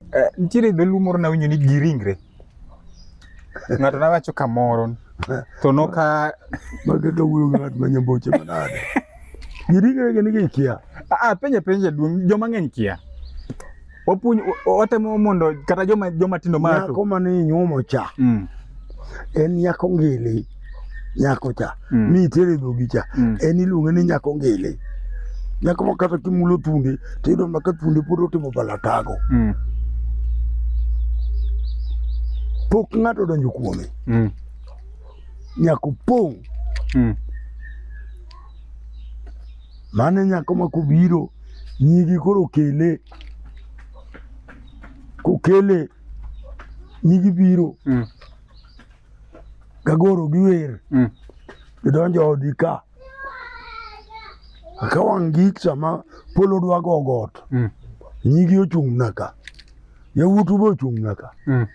Eh, nitiere dholuo moro nawinjo ni gi ringre ng'ato nawacho kamoro to noka mage ka wuoyo gi ng'at ma nyamboche manade giringre gin gi kia ah penja penja duong joma ng'eny kia wapuonj wa- watemo mondo kata joma joma tindo ma nyako mane inyuomo cha mm. en nyako ngili nyako cha mm. mi itere dhogi cha mm. en iluonge ni nyako ngili nyako ma kata kimulo tunde to iyudo ma ka tunde pod otimo balatago mm. pok ng'ato donjo kuome mm. nyako pong' mm. mane nyako ma kobiro nyigi koro kele kokele nyigi biro mm. gagoro giwer mm. gidonjo odi ka ka wang' gik sama polo dwa go got mm. nyigi ochung' naka yawuotu be ochung' naka mm.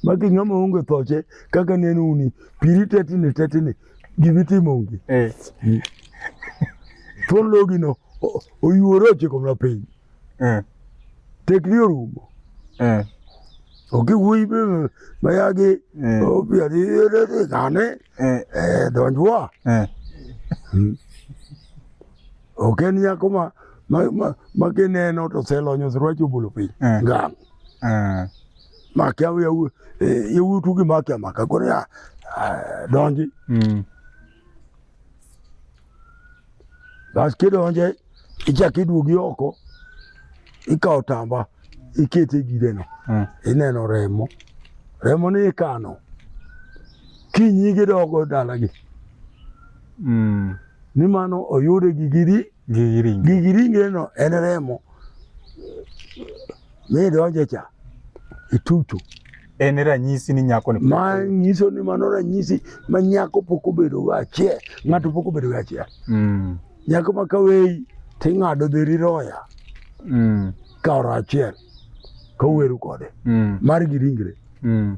maki ng'ama onge thoche kaka neno uni piri tetini tetini gibitimo ngi eh. mm. thuon logino oyuore ochiko mna piny Eh. Tekni orumo. Eh. Oki wuoyi be mayagi eh. opiadhi kane eh. eh, donjwa. Eh. Hmm. Ok en nyako ma ma kineno to selonyo sirwachi obolo piny eh. ngang. Eh. Makia yawuotu gi makia maka koro ya donji. Mm. Bas kidonje ichak iduogi oko ikawo tamba ikete e gideno mm. ineno remo remo ni ikano kinyi gidogo dalagi mm. ni mano oyude gigiri gigiringe no en remo midonje cha itutu en e ranyisi ni nyako ni ma nyiso ni mano ranyisi ma nyako pok obedo go achiel ng'ato pok obedo go achiel mm. nyako ma kaweyi ting'ado dheri roya mm. kaoro achiel koweru kode mm. mar gi ringre mm.